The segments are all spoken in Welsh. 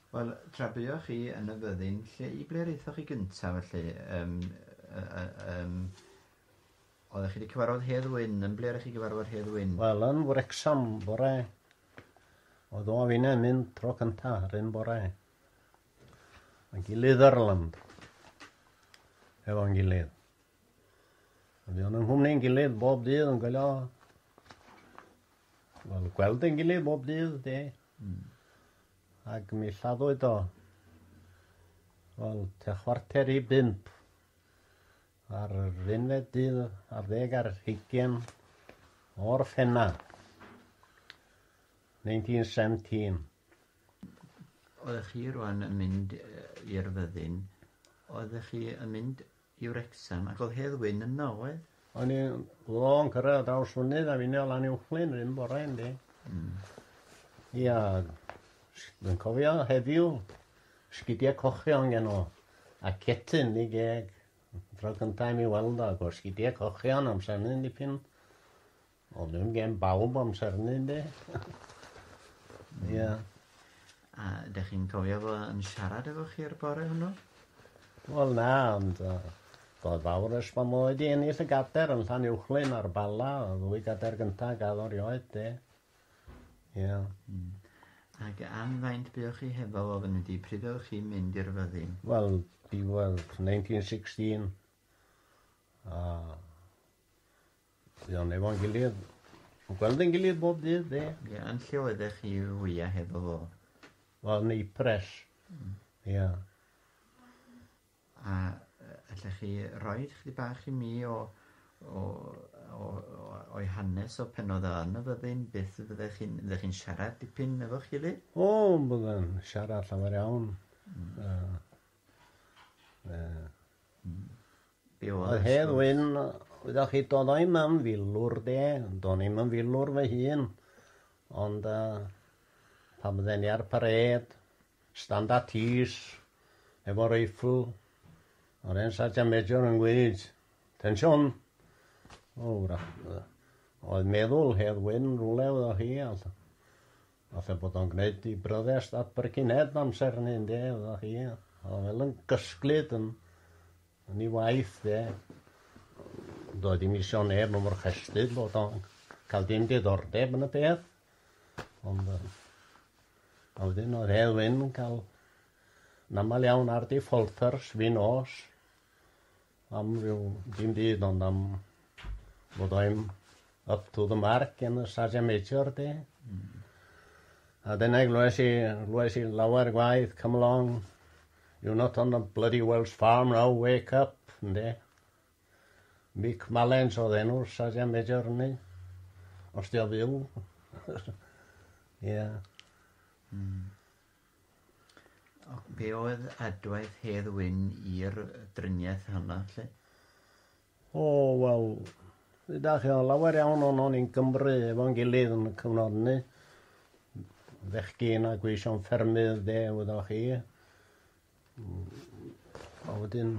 Wel, tra buoch chi yn y fyddin, lle i ble raethoch chi gyntaf felly? Yym yy yym oeddech chi wedi cyfarfod Hedd Wyn, yn ble oeddech chi gyfarfod Hedd Wyn? Wel, yn Wrecsam bore. Oedd o a finne mynd tro cynta yr un bore. Mae gilydd Erland. Efo'n gilydd. A fi o'n yng nghwmni'n gilydd bob dydd yn gwylio. Wel, gweld yn gilydd bob dydd, de. Ac mi lladdwyd o. Wel, te chwarter i bump. Ar yr unfed dydd ar ddeg ar hygien o'r ffenna. 1917. Oeddech chi rwan yn mynd i'r fyddin, oeddech chi yn mynd i Wrecsam ac oedd Hedd Wyn yno, oedd? O'n i long cyrraedd draws fynydd a finne o lan uwchlyn rhywun bore yndi. Mm. Ia, dwi'n cofio heddiw sgidiau cochion gen o a cetyn ni geg. Tro cyntaf i mi weld o, gos sgidiau cochion amser hynny'n dipyn O'n nw'n gem bawb amser hynny ynde? Ia. A dych chi'n cofio fo yn siarad efo chi'r bore hwnnw? Wel na, ond uh, roedd fawr ers bod mo wedi ennill y gader yn Llan Uwchlyn ar Bala, y ddwy gader gyntaf gael o'r ioed, de. Ia. Mm. Ac am faint buoch chi hefo fo fan ydi? Pryd oedd chi mynd i'r fyddin? Wel, diwedd 1916. A... Dwi am efo'n gilydd. Yn gweld yn gilydd bob dydd, de? Ie, yn lle oeddech chi wyau hefo fo? Wel, yn ei pres. Mm. Ie. Yeah. A allech chi roi chdi bach i mi o, o, o, o, o'i hanes o pen oedd yn y fyddin, beth fyddech chi'n chi siarad dipyn efo'ch gilydd? O, byddai'n siarad llawer iawn. Mm. Uh, uh, mm. Diwedd Hedd Wyn, wyddoch chi, dodo i'm am filwr de, do'n i'm yn filwr fy hun, ond uh, pan bydden ni ar pared, stand at ease, efo reifl, o'r hen Sergeant Major yn gweud, tensiwn! O, wrach, oedd meddwl Hedd Wyn rhywle wyddoch chi, a Falle bod o'n gwneud i broddest at brychineb amser ni ynde, efo chi, o fel yn gysglyd yn, yn ei waith de. Doedd dim isio neb yn mor chestud bod o'n cael dim diddordeb yn y peth. Ond uh, a wedyn oedd Hedd Wyn yn cael yn aml iawn ar di ffolthers fi nos Am ryw dim byd ond am bod I'm up to the mark yn y Sage Amateur de. Mm. A dyna glwes i, glwes i lawer gwaith, come along, you're not on the bloody Welsh farm now, wake up, de. Mick Malens oedd enw'r Sage Amateur ni, os di o fyw. Ie. Yeah. Mm. Ac be oedd adwaith Hedd Wyn i'r driniaeth honno, lle? O, wel, da chi o lawer iawn o'n o'n i'n Cymru efo'n gilydd yn y cyfnod ni. Fechgyn a gweision ffermydd de, wyddoch chi. A wedyn,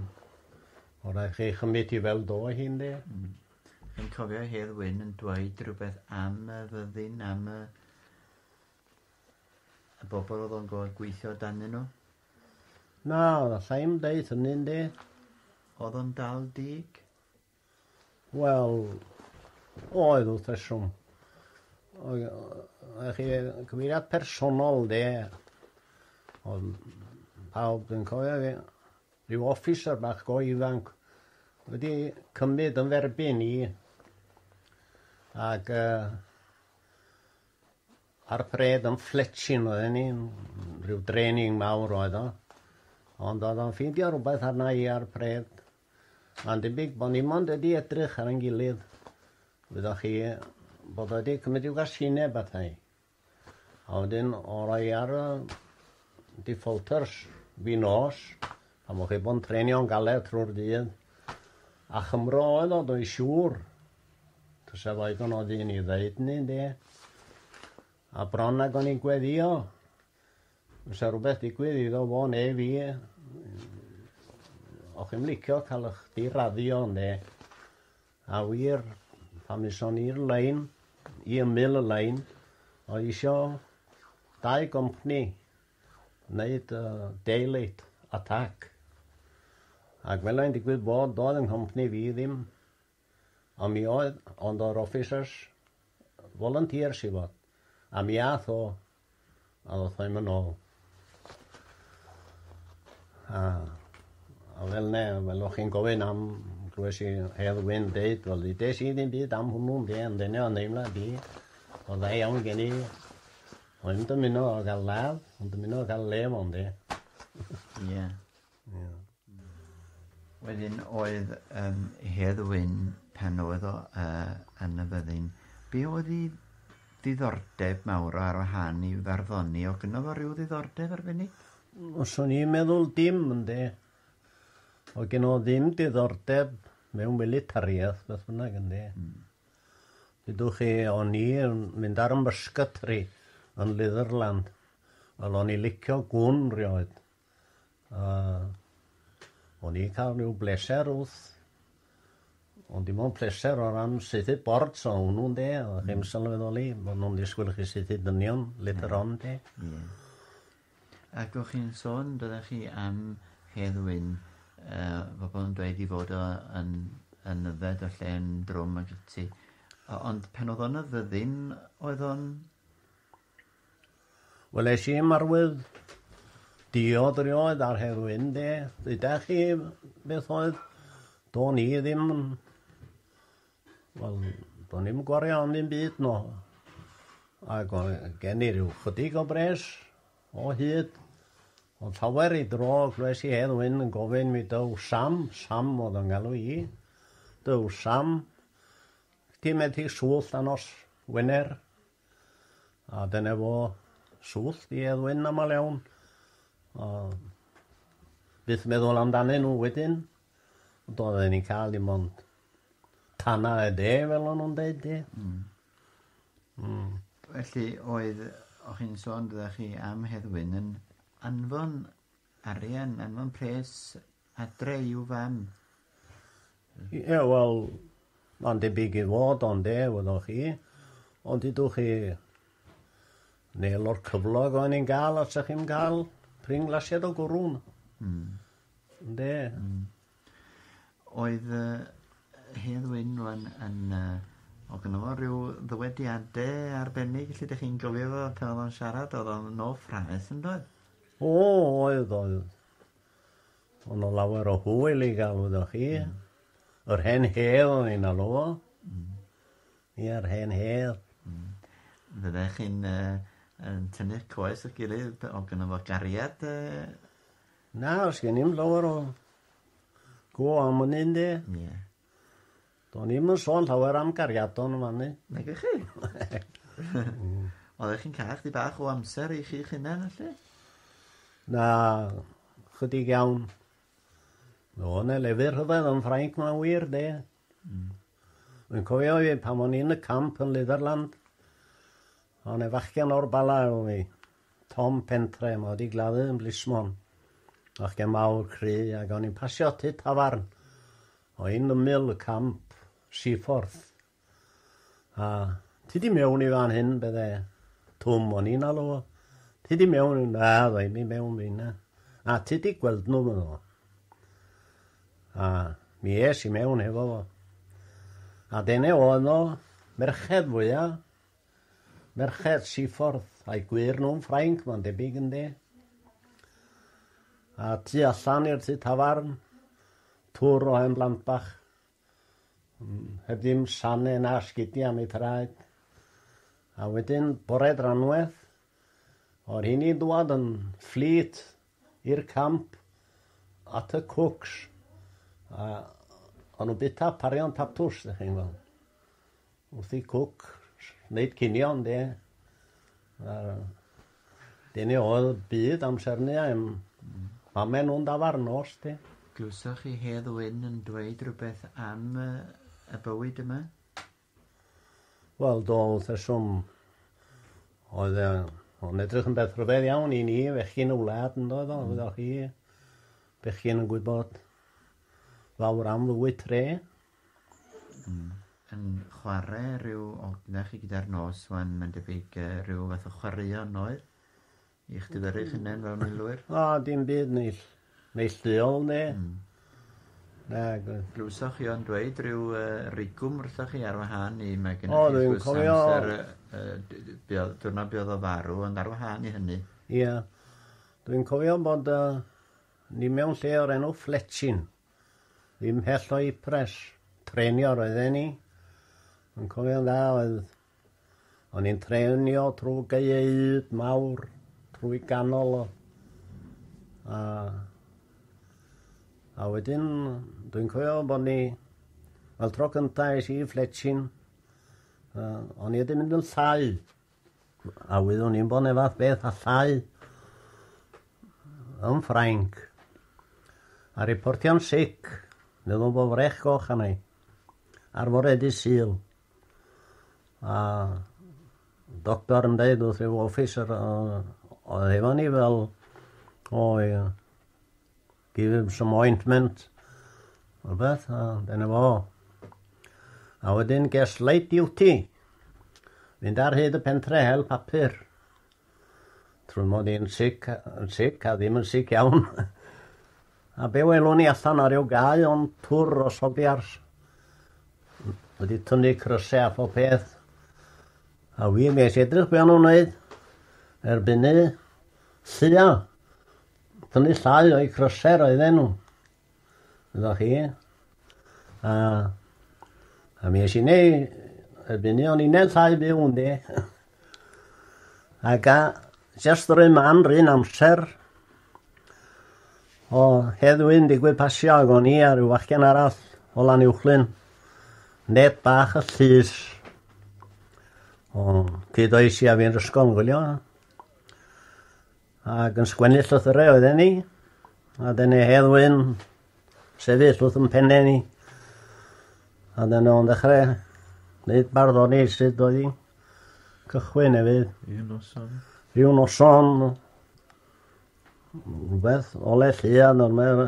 o rhaid chi chymryd i fel do hyn de. Mm. Yn cofio Hedd Wyn yn dweud rhywbeth am y fyddin, am y Y bobl oedd o'n gorfod gweithio danyn nhw? Na, alla i'm deud hynny, yndi. Oedd o'n dal dig? Wel, oedd wrth reswm. Oedd chi cyfeiriad personol, de. Oedd pawb yn cofio fi. Rhyw officer bach go ifanc wedi cymryd yn ferbyn i ac uh, Ar fred yn ffletshyn oedden ni, rhyw draining mawr oedd o. Ond oedd o'n ffeindio rhywbeth arna i ar fred. Mae'n debyg bod ni mond wedi edrych ar ein gilydd. Wyddoch chi bod wedi cymryd i'w gasineb ata i. A wedyn o roi ar y defaulters fi nos, pan o'ch chi bod yn trainio'n galed trwy'r dydd. A Chymro oedd o, dwi'n siŵr, Tusa fo ddigon o ddyn i ddeud ni, ynde? A bron ag o'n i'n gweddio, fysa rhywbeth digwydd iddo fo neu fi, o chi'n licio cael eich diraddio, ynde? A wir, pan fysa ni'r lein, i ymyl y lein, o isio dau gompni wneud uh, daylight attack. Ac fel ein digwydd bod, doedd yng nghompni fi ddim ond mi oedd ond o'r officers volunteers i fod a mi ath o a ddoth o i'm yn ôl a, a fel ne fel o'ch chi'n gofyn am glywes i Hedd Wyn deud wel ddes i ddim byd am hwnnw ynde ond dyna o'n deimlad i o dda iawn gen i o'n dymuno o gael ladd o'n dymuno o gael lef ond de Ie. Wedyn oedd um, Hedd Wyn, pan oedd o uh, yn y fyddin, be oedd i ddiddordeb mawr ar wahân i farddoni? O gyno fo rhyw ddiddordeb arbennig? Os o'n i'n meddwl dim, ynddi. O gyno ddim diddordeb mewn militariaeth, beth bynnag, ynddi. Mm. Dydwch chi, o'n i'n mynd ar y mysgatri yn Litherland. Wel, o'n i licio gwn rioed. Uh, o'n i'n cael rhyw bleser wrth ond dim ond pleser o ran saethu bord so hwnnw de, o mm. chi'n sylweddoli bod nhw'n disgwyl chi saethu dynion litr on de. Yeah. Ac o'ch chi'n sôn, byddech chi am heddwyn uh, pobl yn dweud i fod o yn, yn yfed o lle yn drwm ac ati. Ond pen oedd o'n y fyddin, oedd o'n Wel es i marwydd diod rioed ar herwyn de. Ddeuda chi beth oedd do'n i ddim yn... Wel, do'n i'm gwario am ddim byd no. Ac o, gen i rhyw chydig o bres o hyd. Ond llawer i dro glwes i herwyn yn gofyn mi dyw Sam, Sam oedd o'n galw i. Dyw Sam, ti'n methu swll a nos Wener A dyna fo, swllt i Edwyn aml iawn. O, byth meddwl amdanyn nhw wedyn. Ond oedden ni'n cael dim ond tana y de, fel o'n nhw'n dweud, di. Mm. Mm. Felly oedd, o'ch chi'n sôn, dydych chi am Heddwyn, yn anfon arian, anfon pres Adre i'w fam. Ie, wel, mae'n debyg i fod ond de, wyddoch chi. Ond ydwch chi neu o'r cyflog o'n i'n gael os ydych chi'n cael prin glasiad o gwrwn. Mm. De. Mm. Oedd uh, Hedd Wyn rwan yn... Uh, o gynnal fo rhyw ddywediadau arbennig lle ydych chi'n gofio fo pan oedd o'n siarad oedd o'n no ffraeth yn dod? O, oedd, oedd. O' 'na lawer o hwyl i ga'l wyddoch chi. Hmm. Yr hen hel o'n i'n alw fo. Hmm. Ia'r hen hel. Hmm. Fyddech chi'n yy yn tynnu'ch coes at gilydd pe- o' gynno fo gariad yy? Na o's gen i'm lawer o go am wn i ynde? Ie. Do'n i'm yn sôn llawer am gariadon yn fan 'ny. Nagych chi? Oeddech chi'n cael chdi bach o amser i chi'ch hunain felly? Na, chydig iawn. No, na lefydd rhyfedd yn Ffrainc mae'n wir, de. Mm. Yn cofio fi pan o'n i'n y camp yn Litherland, o'n e fachgen o'r bala efo fi, Tom Pentre, mae wedi gladdu yn Blismon. Fachgen mawr cry, ac o'n i'n pasio tu tafarn, O yn ymyl y camp, Seaforth. A ti di mewn i fan hyn, bydde Twm o'n i'n alw o. Ti di mewn, na, ddau mi mewn fi na. A ti di gweld nhw fan o. A mi es i mewn hefo fo. A dyna oedd nhw, merched fwyaf, merched Seaforth, a'i gwir nhw'n Ffrainc, mae'n debyg ynddi. A tu allan i'r tu tafarn, Tŵr o hen blant bach. Heb ddim sane na sgidia am ei thraed. A wedyn bore dranwedd, o'r hyn i'n dwad yn fflyd i'r camp at y cwcs. A o'n nhw'n bita parion tatws, dych chi'n gweld. Wrth i Cook wneud cinio ynde? Wel, dyna oedd byd amser 'ny a yym pame' nhw'n dafarn nos de. Glywsoch chi Hedd Wyn yn dweud rhywbeth am yy y bywyd yma? Wel do wrth reswm. Oedd e o'n edrych yn beth rhyfedd iawn i ni fechgyn y wlad yndoedd o wyddoch chi bechgyn yn gwybod fawr am fywyd tre. Hmm. Yn chware rhyw odne chi gyda'r nos wan mae'n debyg yy rhyw fath o chwaraeon noeth? I chdi fyrru'ch hunen fel milwyr? O dim byd neill- neillduol ne? Hmm. Nag oedd. Glywsoch chi o'n dweud rhyw yy rigwm wrthoch chi ar wahân i mae gennych chi... O dwi'n cofio. ...amser yy yy d- d- be' odd diwrnod be' odd o farw ond ar wahân i hynny. Ia. Dwi'n cofio bod yy ni mewn lle o'r enw Fletchyn. Ddim mhell o Ypres. Trenio roedden ni. Yn cofio'n dda oedd... O'n i'n trenio trwy gaeaid mawr, trwy ganol o. A... A wedyn, dwi'n cofio bod ni... Wel, tro cyntaf es i i Fletchyn, uh, o'n i wedi mynd yn llai. A wyddwn i'n bod fath beth allai yn Ffrainc. A reportio'n sic, meddwl bod frech goch arna i. Ar fore di syl. A doctor yn dweud wrth rhyw officer oedd efo ni fel, o, Give him some ointment. Rhywbeth, a dyna fo. A wedyn ges late duty. Fynd ar hyd y pentre hel papur. Trwy mod i'n sic, yn sic a ddim yn sic iawn. a be welwn ni allan ar yw gau o'n tŵr o sobiars. Wedi tynnu crysau a phob peth. A fi ges edrych be o'n nhw'n wneud. Erbyn ni, sia, Tynnu llai o'i croser oedd enw. Ydych chi? A, a mi eisiau neu y bini o'n i'n llai byw yn di. Ac a just yr un man, rhywun amser, o heddwy'n digwydd pasio ag o'n i a rhyw fachgen arall o lan uwchlyn. Net bach y llys. O, cyd oes i a fi'n rysgol yn gwylio. Ac yn sgwennu llythyrau oedd enni, a dyn ei heddwyn sefyll wrth yn penne ni. A dyn nhw'n dechrau gwneud barddoni sydd oedd hi'n cychwyn hefyd. Rhyw noson. Rhyw noson. Rhywbeth ole llian ond mae'r...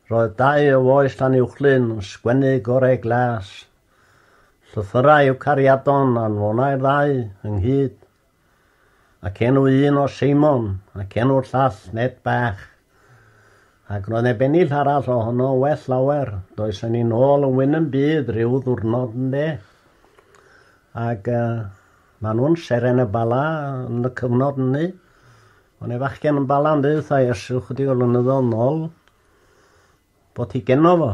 Roedd dau o foes tan uwchlyn yn sgwennu gorau glas. Llythyrau yw cariadon a'n fonau'r ddau ynghyd. Ac enw un o Seimon, ac enw'r llall Ned Bach. Ac roedd neb ennill arall o honno yn well lawer. Does yn un ôl yn wyn yn byd rhyw ddwrnod yn de. Ac uh, maen nhw'n seren y bala yn y cyfnod yny. Ond e fachgen yn bala yn dweud wrtha Iesu chydig o lynyddoedd nôl, Bo ti geno fo.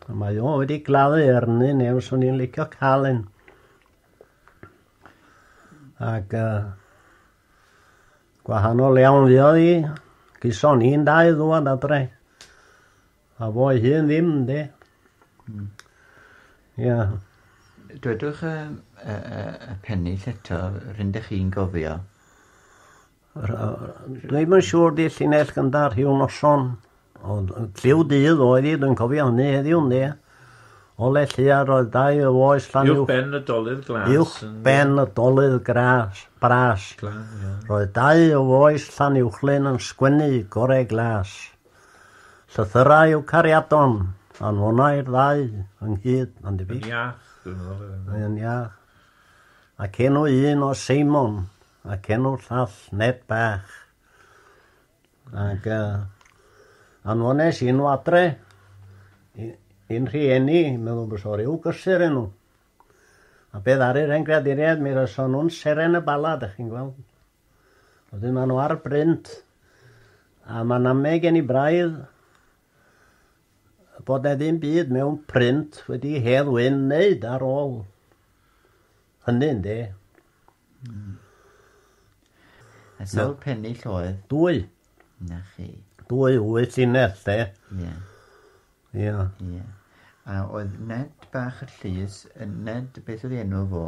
A mae o wedi gladdu erni neu swn i'n licio cael un. Ac uh, gwahanol iawn fi oedd i. Gyson i'n dau ddwad adre. A fo i hun ddim, de. Mm. Yeah. Dwedwch y, y, y, y pennill eto, rydych chi'n gofio Dwi ddim yn siŵr di llinell gyda rhyw noson. Ond lliw dydd oedd hi, dwi'n cofio hynny heddiw, ne? O le lliar roedd dau o oes llan Uwch ben y dolydd glas. Uwch ben y dolydd gras, bras. Roedd dau o oes llan uwchlyn yn sgwennu gorau glas. Llythyrau yw cariadon, anfonai'r ddau ynghyd, mae'n debyg. Yn iach, dwi'n meddwl. Yn iach. Ac enw un o Seimon, ac enw llall Ned bach ac yy anfones i nhw adre i i'n rhieni meddwl bod o ryw gysur enw a be' ddaru hen greaduriaid mi roeddon nhw'n seren y bala dach chi'n gweld wedyn ma' nhw ar brint a ma'n ame gen i braidd bod na ddim byd mewn print wedi Hedd Wyn wneud ar ôl hynny, ynddi. Mm. A sawl no. pennill oedd? Dwy. Na chi. Dwy wyth i nes, de. Ie. Ie. Ie. A oedd Ned bach y llys, Ned, beth oedd enw fo?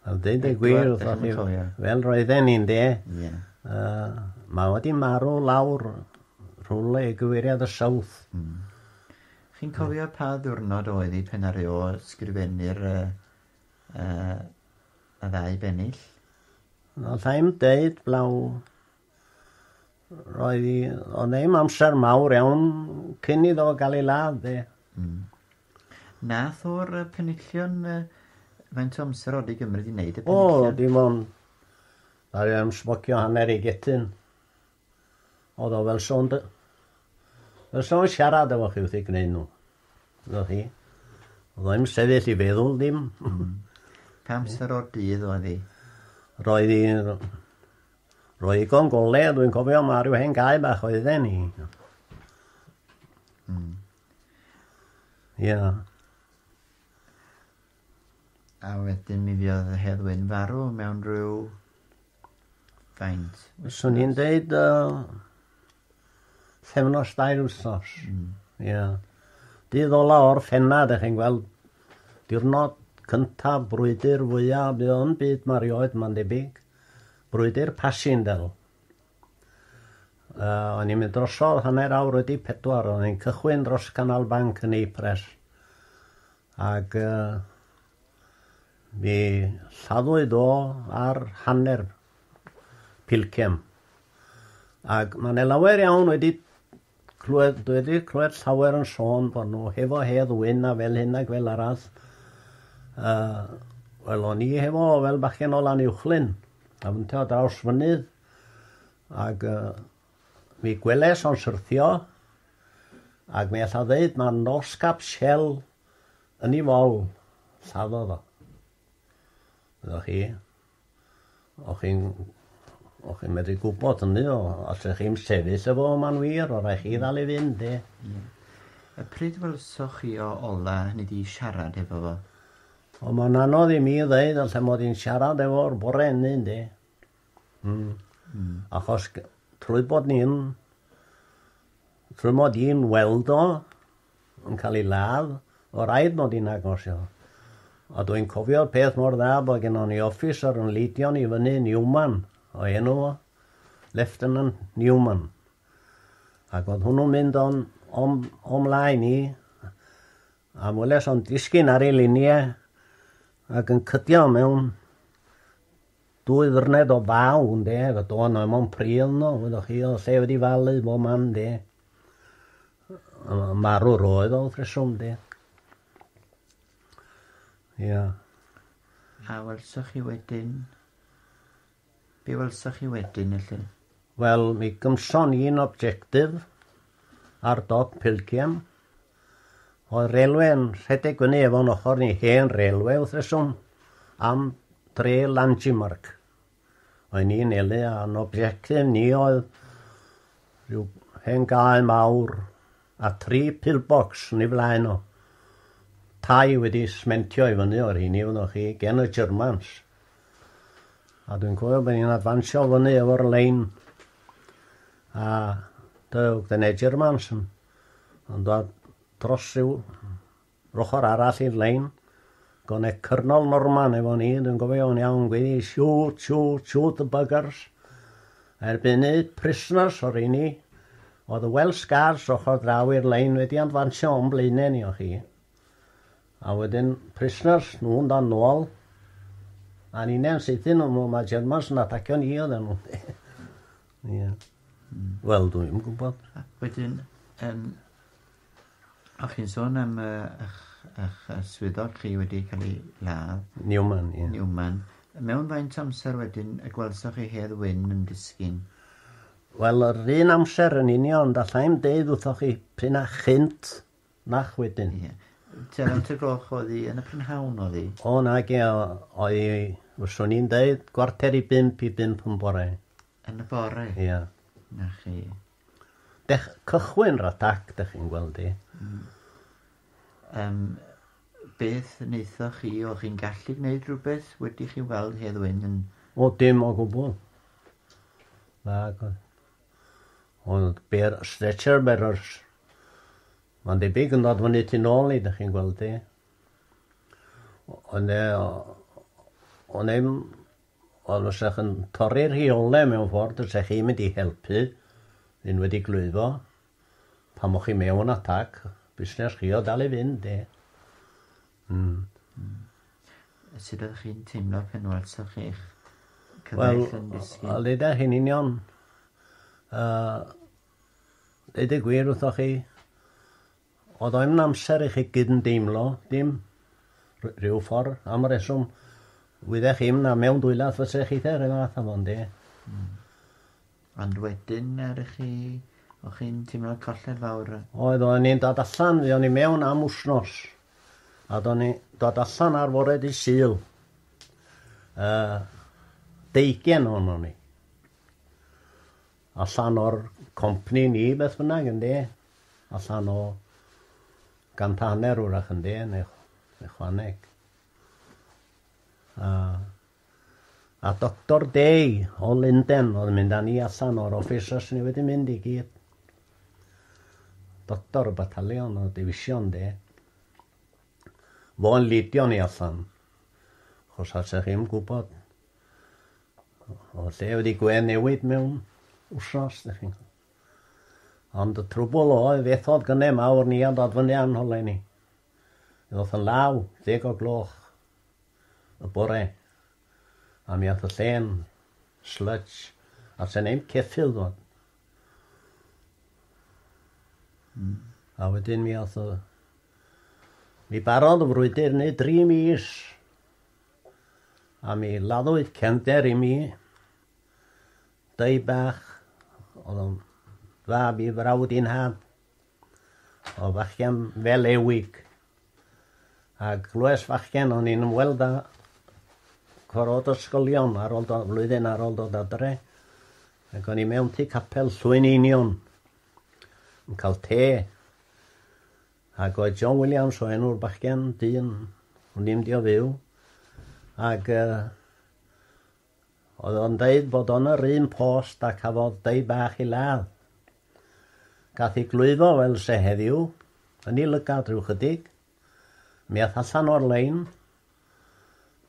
Wel deud y gwir wrthoch chi fel roedden ni'n de. Ie. Uh, mae wedi marw lawr rhywle i gyfeiriad y South. Mm. Chi'n cofio pa ddwrnod oedd i pen ar eo sgrifennu'r uh, uh, y ddau bennill? Wel, sa'n deud blaw Roedd hi... Oedd ddim amser mawr iawn cyn iddo gael ei ladd, de. Mm. Nath o'r uh, penillion... Uh, faint o amser oedd i gymryd i wneud y penillion? O, dim ond... Dda i am smocio hanner i getyn. Oedd o fel sôn... Fel sôn siarad efo chi wrth i gwneud nhw. Roedd hi. Oedd o'n sefyll i feddwl ddim. Mm. Pa amser o'r dydd oedd hi? Roedd hi... Roedd ddigon golew, dwi'n cofio ma' ryw hen gae bach oedden ni. Hmm. Ie. A wedyn mi fiodd y heddwyn farw mewn rhyw faint. Swn i'n deud uh, sefnos dair wsos. Mm. Yeah. Dydd ola o'r ffenna, dych chi'n gweld, diwrnod cyntaf brwydr fwyaf, bydd o'n byd marioed, mae'n debyg. Brwydr Passchendaele. Yy, o'n i'n mynd drosodd hanner awr wedi pedwar, o'n i'n cychwyn dros Canal Bank yn Ypres. Ac yy, mi lladdwyd o ar hanner pilcem. Ac mae yna lawer iawn wedi Clywed, dwi wedi clywed llawer yn sôn bod nhw hefo hedd wyn a fel hyn ac fel arall. Uh, Wel, o'n i hefo fel bachgen o lan uwchlyn, a fynte o draws fynydd, ac uh, mi gweles o'n syrthio, ac mi alla ddeud mae nos cap shell yn ei fol, lladdodd o. Ydych chi? O'ch chi'n... O'ch chi'n medru gwybod hynny o... Os o'ch chi'n sefyll efo fo ma'n wir, o' raid chi ddal i fynd de. Ie. A pryd welsoch chi o ola hynny 'di siarad efo fo? O ma'n anodd i mi ddeud alle mod i'n siarad efo'r bore ynny ynde. Hmm. Hmm. Achos trwy bod ni'n trwy mod i'n weld o yn cael ei ladd, o raid mod i'n agos iddo. A dwi'n cofio'r peth mor dda bod gennon ni officer yn Leidion i fyny, Newman, o enw o, Lieutenant Newman. Ac oedd hwnnw'n mynd o'n, o'n, o'n mlaen i, a weles o'n disgyn ar ei luniau ac yn cydio mewn Dwy ddwrned o faw, ynde, efo do yno mewn pridd yno, wyddoch chi, oedd lle wedi falu bob man, ynde. Yn marw roedd o wrth reswm, ynde. Ia. A welsoch chi wedyn? Be welsoch chi wedyn, felly? Wel, mi gymson i'n objectif, ar dop Pilgiem. Oedd railwê yn rhedeg fyny efo'n ochr ni hen railwê wrth reswm am dre Langemark. Oedd ni'n nelu a'n objectif ni oedd rhyw hen gae mawr a tri pillbox yn ei flaen o. Tai wedi smentio i fyny o'r hini fyddwch chi gen y Germans. A dwi'n cofio bod ni'n adfansio fyny efo'r lein A Doug the Nature Mansion yn dod dros rhyw ochr arall i'r lein. Goneg Cyrnol Norman efo ni, dwi'n gofio'n iawn gweddi, shoot, shoot, shoot the buggers. Erbynu prisoners o'r un ni. Oedd y Welsh Guards ochr draw i'r lein wedi anfansio o'n blaenau ni o chi. A wedyn prisoners nhw'n dan nôl. A ni'n e'n sydyn nhw, mae Germans yn atacio ni oedden nhw. Ie. Yeah. Mm. Wel, dwi'n yn gwybod. Ac wedyn, um, o chi'n sôn am uh, eich, eich swyddog chi wedi cael ei ladd. Newman, ie. Yeah. Newman. Mewn faint amser wedyn y gwelsoch chi Hedd Wyn yn disgyn? Wel, yr un amser yn union, da llaim deud wrthoch chi pryn a chynt Nac wedyn. Ie. Tua naw te gloch oedd hi, yn y prynhawn oedd hi? O nage, oedd hi, fyswn i'n deud, gwarter i bump i bump yn bore. Yn y bore? Ie. Na chi. Dech, cychwyn rhadac, dych chi'n gweld i. Mm. Um, beth wnaethoch chi, o chi'n gallu gwneud rhywbeth wedi chi weld Hedd Wyn yn... O, dim o gwbl. Na, Ond be'r stretcher bearers. Mae'n debyg yn dod fyny tu nôl ni, dych chi'n gweld di. Ond e, ond eim, ond os ydych yn torri'r rheolau mewn ffordd, os ydych chi'n mynd i helpu, yn wedi glwyddo, pan mwch chi mewn atac, busnes chi o dal i fynd, de. Sut ydych chi'n teimlo pan welsoch chi'ch cyfaill yn disgyn? Wel, dyda chi'n union. Uh, Dweud y gwir wrthoch chi, oedd o yn amser i chi gyd yn deimlo, dim rhyw ffordd, am y reswm, wydde chi'n na mewn dwylath fysa chi te, rhywbeth am ond e. Ond wedyn er i chi, o chi'n timlo colled fawr. Oedd o'n i'n dod allan, fi o'n i mewn am wsnos. A do'n ni dod allan ar fore di syl. Uh, deigen o'n o'n i. Allan o'r compni ni beth bynnag yn de. Allan o gan taner wrach yn de, neu, neu chwaneg. Uh, A Doctor Day o Lunden oedd yn mynd â ni allan o'r office os ni wedi mynd i gyd. Doctor y batalion o division de. Fo'n lidio ni allan. Chos a sech chi'n gwybod o lle wedi gwe newid mewn wsnos, ddech chi'n Ond y trwbl oedd, fethodd gynnau mawr ni a dod fyny a'n holau ni. Mi ddoth yn law ddeg o gloch y bore a mi ath y llên slutsh a sen ein ceffyl ddod. Mm. A wedyn mi ath y... Mi barodd y frwydr neu dri mis a mi laddwyd cefnder i mi dau bach oedd o'n fab i frawd i'n haf. o fachgen fel Ewyg a glwes fachgen o'n i'n ymweld â cwarod ysgolion ar ôl do- flwyddyn ar ôl dod adre ac o'n i mewn tu capel Llwyn Einion yn cael te ac oedd John Williams o enw'r bachgen dyn o'n i'n mynd i o fyw ac uh, Oedd o'n deud bod o'n yr un post a cafodd dei bach i ladd. Gath i glwyfo fel se heddiw, yn i lygad rhyw chydig. Mi ath allan o'r lein,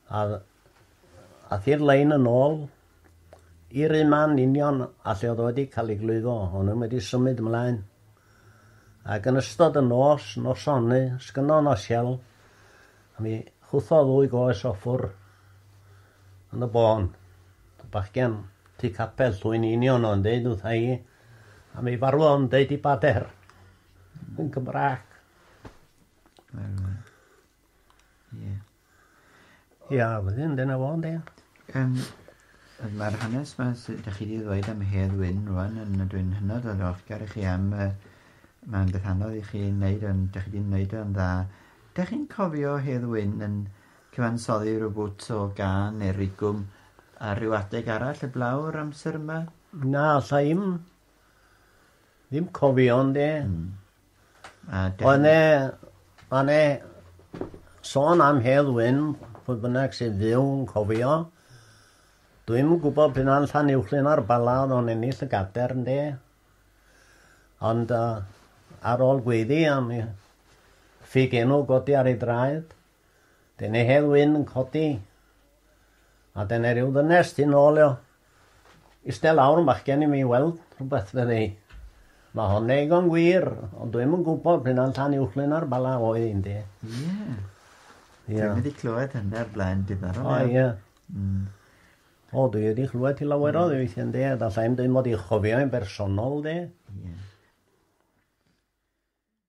a ath i'r lein yn ôl i'r un man union a lle oedd wedi cael ei glwyfo, o'n nhw'n wedi symud ymlaen. Ac yn ystod y nos, nosoni, sgynno nos iawn, A mi chwythodd ddwy goes o ffwr yn y bôn. Y bachgen tu capel llwy'n union o'n deud wrtha i, a mi farwodd o'n deud i bader yn Gymraeg. Ie. Ia, wedyn, dyna fo, yndi. Um, Mae'r hanes yma sydd ydych chi wedi ddweud am Hedd Wyn rwan, yn y dwi'n hynod o ddiolchgar i chi am... Uh, mae'n beth anodd i chi wneud, ond ydych chi wedi wneud o'n dda. Dych chi'n cofio Hedd Wyn yn cyfansoddi rywbwt o gân neu rigwm ar ryw adeg arall heblaw yr amser yma? Na, alla i'm. Ddim cofio ond e. Mm. A Ond e, ond e, sôn am Hedd Wyn, pwy bynnag sy'n fyw yn cofio, dwi'n gwybod pan allan uwchlyn ar bala oedd o'n ennill y gader, ynde? Ond yy ar ôl gweiddi am i ffug enw godi ar ei draed, dyn ei Hedd Wyn yn codi, a dyna ryw ddynes tu nôl o. Iste lawr yn bachgen i mi weld rhywbeth fydde i. Mae hon eigon gwir, ond dwi'm yn gwybod p'un a'n llan uwchlyn ar bala oedd un de. Ie. Ie. Dwi'n wedi clywed hynna o'r blaen diddorol. O ie. Mm. O, dwi wedi chlywed ti lawer o ddeweithiau yn de, a da sa'n dweud mod i'n chofio yn bersonol de. Ie.